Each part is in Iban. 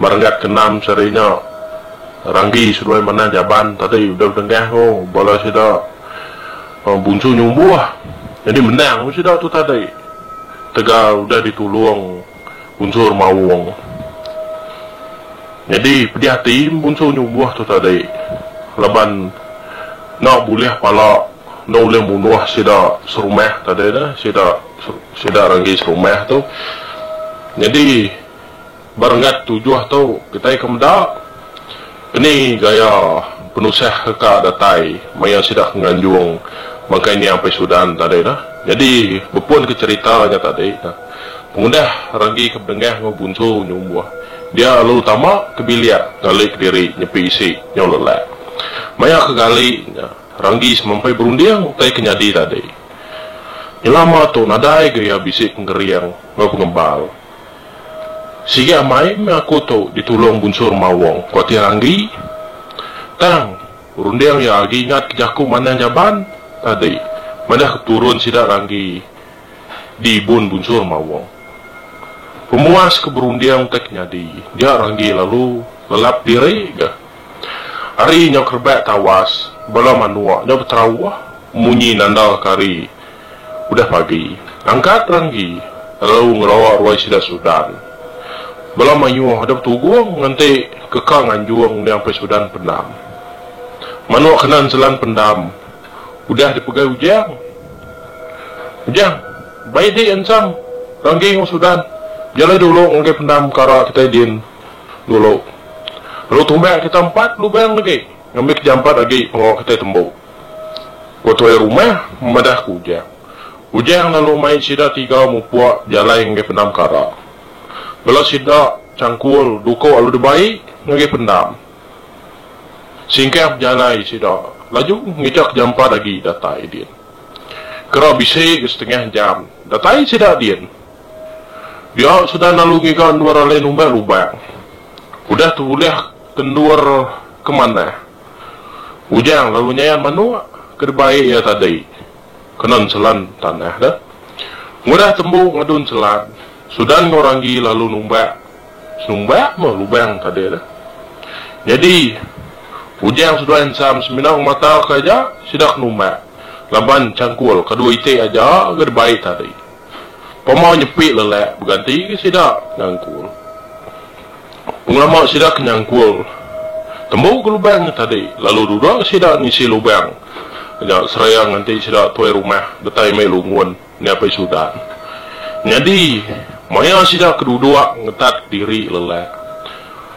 Merenggat ke enam sehari nya, Ranggi seduai Manah Jaban tadi udah bedengah ku bala sida Bunsu Nyumbuh nyadi menang meh sida tu tadi tegal udah ditulung Bunsu Remaung. Nyadi pedih ati Bunsu Nyumbuh tu tadi laban enda bulih pala enda ulih munuh sida serumah tadi tu, sida Ranggi serumah tu. Nyadi. ba renggat tujuh tu kitai ke meda keni gaya penusah reka datai maya sida ke nganjung bangkai nya Ampai Sudan tadi nah. Nyadi bepun ke cherita nya tadi nah pengudah ragi ke bedengah enggau Bunsu nyumbuh dia lalu tama ke bilik ngali kediri nyepi isi nyau lelak. Maya ke gali nya ragi semampai berunding utai ke nyadi tadi. Nyelama tu nadai gaya bisi pengering enggau pengembal. Sigi amai meh aku tu ditulung Bunsur Mawong, ku Atin Randi. Tang, runding iya agi ingat ke jaku manah Jaban tadi madah ke turun sida Randi di ibun Bunsur Mawong. Pemuas ke berunding utai ke nyadi, dia Randi lalu lelap diri ga. Ari nyau kerebak tawas, bala manuk nyau beterauh munyi nandalka ari. Udah pagi, angkat ranggi lalu ngerawa ruai sida Sudan. Bala mayuh dep tugung ngenti keka nganjung niang pei Sudan pendam. Manok kena enselan pendam udah dipegai Ujang. Ujang, baik dik ensam ranggi enggau Sudan. Jalai dulu ngagai pendam kara kitai din dulu. Lalu tumbak kita empat lubang legi. Ngambi ke jampat agi pengawa kitai tembu. Ku tuai rumah madah ke Ujang. Ujang lalu mai sida tiga mupuk bejalai ngagai pendam kara. Bela sida changkul duko lalu dibai ngagai pendam. Singkang bejalai sida laju ngicha ke jampat agi datai din. Kera bisi ke setengah jam datai sida din. Dia sudah lalu ngiga endur alai numbai lubang. Udah tebulih Kendur ke manah. Ujang lalu nyayan manuk ke dibai iya tadi kena enselan tanah deh. Ngudah tembu ngadu enselan, Sudan enggau Ranggi lalu numbak senumbak meh lubang tadi deh. Nyadi, Ujang seduai ensam semina ngematauka aja sida ke numbak laban changkul ke dua iti aja ke dibai tadi. Pama nyepi lelak beganti ke sida nyangkul. Pengelama sida ke nyangkul tembu ke lubang nya tadi lalu duda ke sida ngisi lubang nya seraya nganti sida tuai rumah betai mai lungun nyapai sudan. Nyadi maya sida ke duduk ngetat diri lelak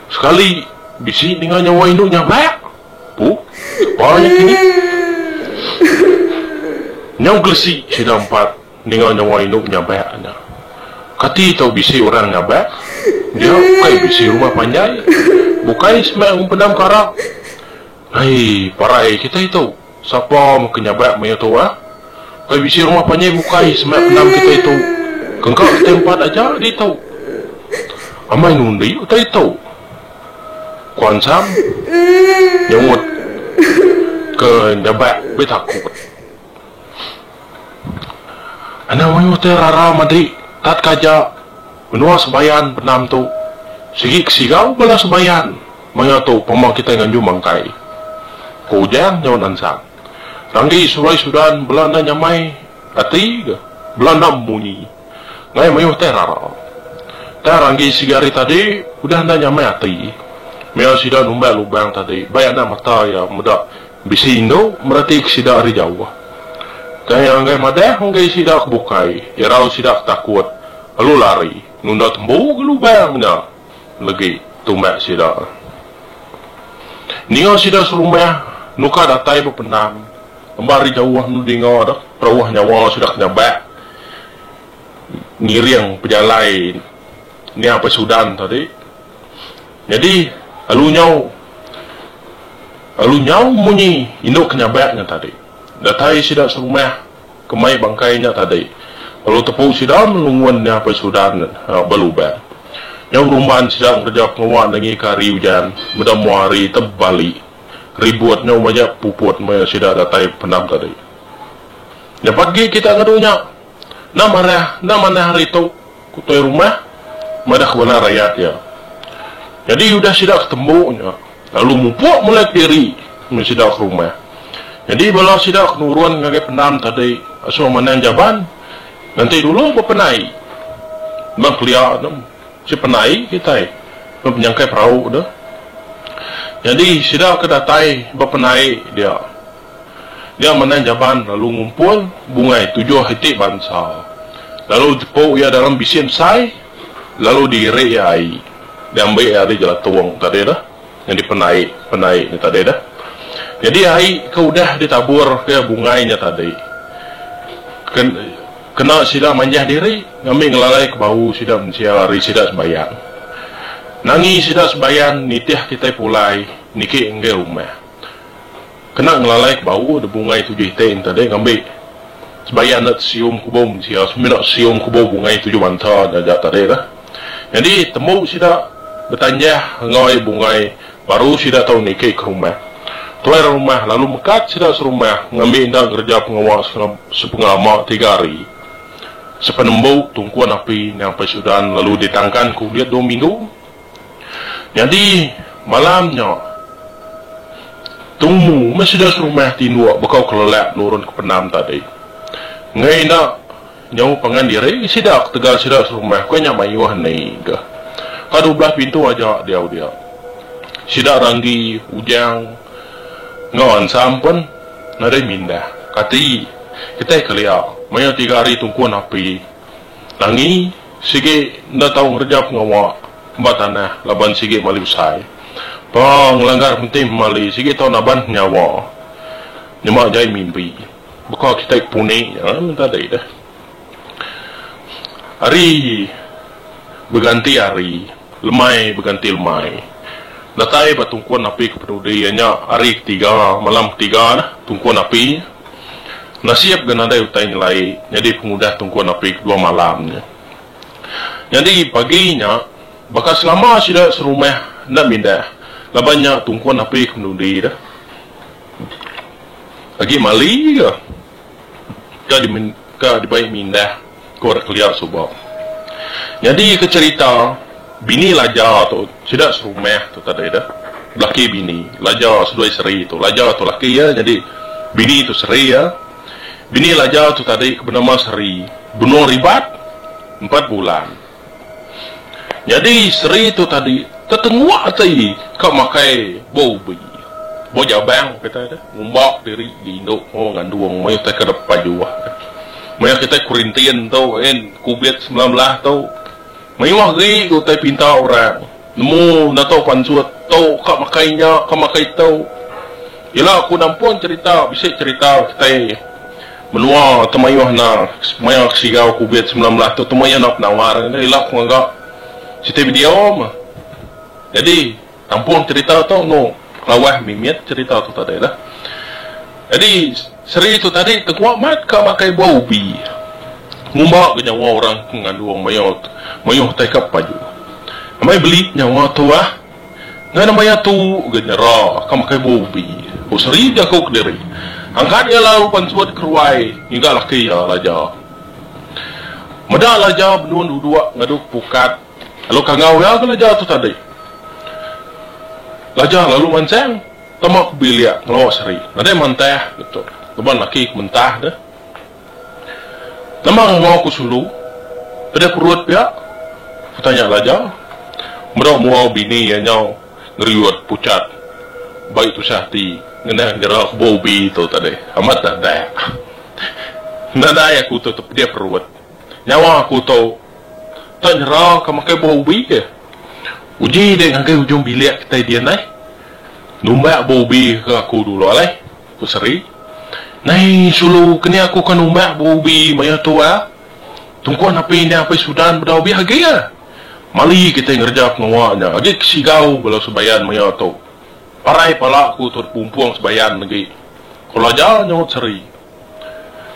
sekali bisi ninga nyawa indu nyabak. Puh sapa nya kini. Nyau gelesi sida empat. ninga nyawa indu nyabak nya. Kati tau bisi orang nyabak? Nya ukai bisi rumah panjai, bukai semak empedam kara. Ai, parai kitai tu, sapa meh ke nyabak maya tu ah? Ukai bisi rumah panjai bukai semak pendam kitai tu. Kengka kitai empat aja ditu. Amai nundi utai tu. Ku Ansam nyaut ke nyabak betakut. Enda mayuh te rara madri tat kaja menua Sebayan benam tu. Sigi ke sigau bala Sebayan maya tu pemba kitai nganju mangkai, ku Ujang nyaut ansang. Ranggi sulai sudan bela enda nyamai ati ga bela enda memunyi ngai mayuh te rara. Tang Ranggi sigi hari tadi udah enda nyamai ati maya sida numbai lubang tadi bai anak mata iya meda. Bisi indu meratik sida ari jauh. Kai anggai madah enggai sida ke bukai, irau sida ke takut, lalu lari nunda tembu ke lubang nya legi tumbak sida. Ninga sida serumah nuka datai bependam amba ari jauh enda dinga deh perauh nyawa sida ke nyabak ngiring pejalai nya apai Sudan tadi. Nyadi, alu nyau alu nyau munyi indu ke nyabak nya tadi. Datai sida serumah ke mai bangkai nya tadi, alu tepu sida ngelungun nya apai Sudan ba lubang. Nyau rumban sida ngereja pengawa nengika hari ujan meda mua hari tebali ribut nyau majak puput maya sida datai pendam tadi. Nyapat agi kita ngadu nya. Enda manah, enda manah hari tu, ku tuai rumah madahka bala rayat iya. Nyadi udah sida ke tembu nya, lalu mupuk mulai ke diri meri sida ke rumah. Nyadi bala sida ke nurun ngagai pendam tadi asung manang jaban nganti dulu bepenai. Embang kelia tu mesti penai kitai laban penyangkai perau tu. Nyadi sida ke datai bepenai dia. Nya menang Jaban lalu ngumpul bungai tujuh iti bansa lalu jepuk iya dalam bisi ensai lalu diirik iya ai diambi iya ari jelatung tadi tu nyadi penai penai nya tadi tu nyadi ai ke udah ditabur ke bungai nya tadi ke kena sida manjah diri ngambi ngelalai ke bau sida mensia ari sida sembahyang nangi sida sembahyang nitih kitai pulai niki enggai rumah. Kena ngelalai ke bau de bungai tujuh iting tadi ngambi sebaya enda tesium kubum sia semina sium kubum bungai tujuh banta jaja tadi tu. Nyadi tembu sida betanjah enggoi bungai baru sida tau niki ke rumah. Tuai rumah lalu mekat sida serumah ngambi enda ngereja pengawa sepengama tiga hari. Sepenembu tungkun api nyampai sudan lalu ditangkan ke ulit dua minggu. Nyadi, malam nya, Tumu meh sida serumah ti enduk bekau kelelak nurun ke pendam tadi. Enggai enda nyau pangan diri sida ketegal sida serumah ke nya mayuh ni ga. Ka dua belah pintu aja diau dia. Sida Ranggi, Ujang enggau Ansam pun nadai mindah. Kati kitai kelia mayuh tiga hari tungkun api. Angi, sigi enda tau ngereja pengawa ba tanah laban sigi mali besai. Pa ngelanggar Menteri Pemali sigi tau naban penyawa nyema jai mimpi. Baka kitai ke puni nya tadi deh. Hari beganti hari, lemai beganti lemai. Datai ba tungkun api ke peduli iya nya hari ketiga, malam ketiga deh tungkun api. Nasib ga nadai utai nyelai nyadi pengudah Tunku Napi kedua malam nya. Nyadi pagi nya, baka selama sida serumah enda mindah laban nya Tunku Napi ke menudi deh. Agi Mali ga ka dibai mindah. Ku anak kelia suba. Nyadi ke cerita bini laja tu sida serumah tu tadi dah. Belaki bini laja seduai seri tu. Laja tu laki iya nyadi bini tu seri iya. Bini laja tu tadi ke benama Seri benung ribat empat bulan. Nyadi seri tu tadi tetengua ati ka makai ba ubi. Ba jabang kitai deh ngumba diri diindu enggau ngandung maya kitai ke depan jua. Maya kitai kurintin tu in covid semilan belas tu mayuh agi ku utai pinta orang nemu enda tau pansut tu ka makai nya ka makai tu. Ila ku nampun cerita bisi cerita kitai. Menua ke mayuh enda maya kesigau Covid semilan belas tu temua iya enda penawar enda ila ku ngaga siti video meh. Jadi nampung cerita tu enu lawas mimit cerita tu tadi lah. Jadi seri tu tadi tegua mat ka makai buah ubi ngumba ga nyawa orang ke ngandung mayuh mayuh tai ka pepaju. Amai beli nyawa tu ah. Enggau nama iya tu ga nyera ka makai bua ubi, ku Sri jaku kediri. Angkat iya lalu pansut ke ruai ngiga laki iya, Laja. Meda Laja benung duduk ngadu ke pukat lalu kangau iya ga Laja tu tadi. Laja lalu mansang tama ke bilik ngelawa Sri. Nadai mantah, ku tu. Laban laki ke mentah deh. Nama enggau ku sulu? Peda perut pia? ku tanya Laja. Meda mua bini iya nyau ngeriut pucat bai tusah ati ngena nyera kebuah ubi tu tadi. Amat dadak. Nadai aku tu tepeda perut. Nyawa aku tu enda nyera ka makai buah ubi ke. Uji dek ngagai ujung bilik kitai dian ai. Numbak buah ubi ke aku dulu alai. Ku Seri. Nai sulu keni aku ke numbak berubi maya tu ah. Tungku napi nya apai Sudan bedau bih agi ah. Mali kitai ngereja pengawa nya agi ke sigau bala Sebayan maya tu. Parai pala aku tu dipumpung Sebayan agi. Ku Elaja nyaut Seri.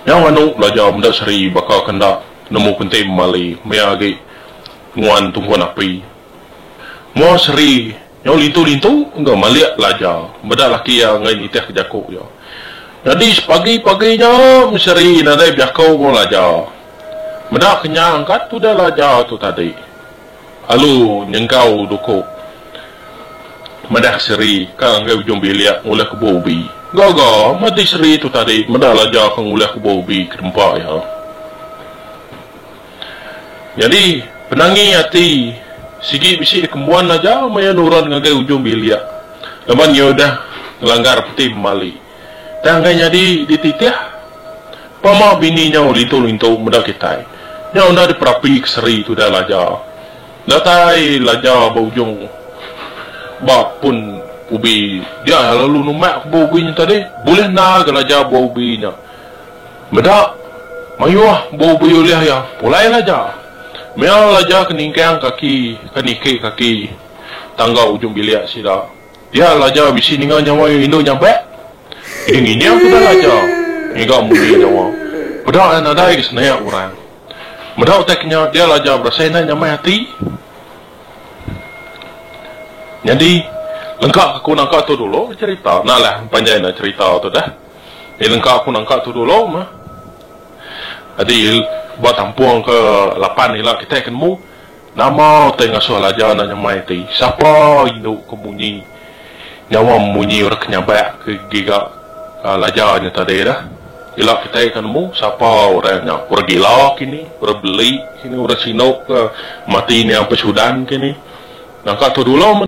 Nyau anu Elaja meda Seri baka ke enda nemu penting mali maya agi nuan tungku napi. Mua Seri Nyau lintu-lintu enggau malik pelajar meda laki iya enggai nitih ke jaku iya. Nyadi sepagi-pagi nya meseri nadai bejaku enggau Laja. Meda kenyang ka tudah Laja tu tadi alu nyenggau duku madah seri ka ngagai ujung bilik ngulih kebuah ubi. Gaga mati seri tu tadi meda Laja ke ngulih kebuah ubi ke tempa iya. Nyadi, penangi ati sigi bisi dikembuan aja maya nuran ngagai ujung bilik laban iya udah ngelanggar peti pemali. Tang enggai nyadi dititih pama bini nyau lintu-lintu meda kitai. Nya udah diperapi ke seri tudah Laja. Datai Laja ba ujung ba pun ubi dia lalu numak ke ba ubi nya tadi. Bulih enda ga Laja ba ubi nya. Meda, mayuh bau bui ulih iya pulai laja. Mea laja ke ningkang kaki ke niki kaki tangga ujung bilik sida. Dia laja bisi ninga nyawa iya indu nyabak. Idi ngining ke da laja ngiga munyi nyawa peda iya nadai ke senayak orang. Meda utai ke nya dia laja berasai indai nyamai ati. Nyadi lengka ke ku nangka tu dulu cherita. Nah lah panjai enda cherita tu dah. Iya nengka aku nangka tudu lo meh. Adi ba tampung ke lapan ila kitai ke nemu, nama utai ngasuh laja enda nyamai ti. Sapa indu ke munyi nyawa munyi orang ke nyabak ke giga laja nya tadi dah. Ila kitai ke nemu sapa orang nya. Orang gila ke ni, orang beli ke ni, orang sinu ke mati nya empai sudan ke ni. Nangka tudu lo meh.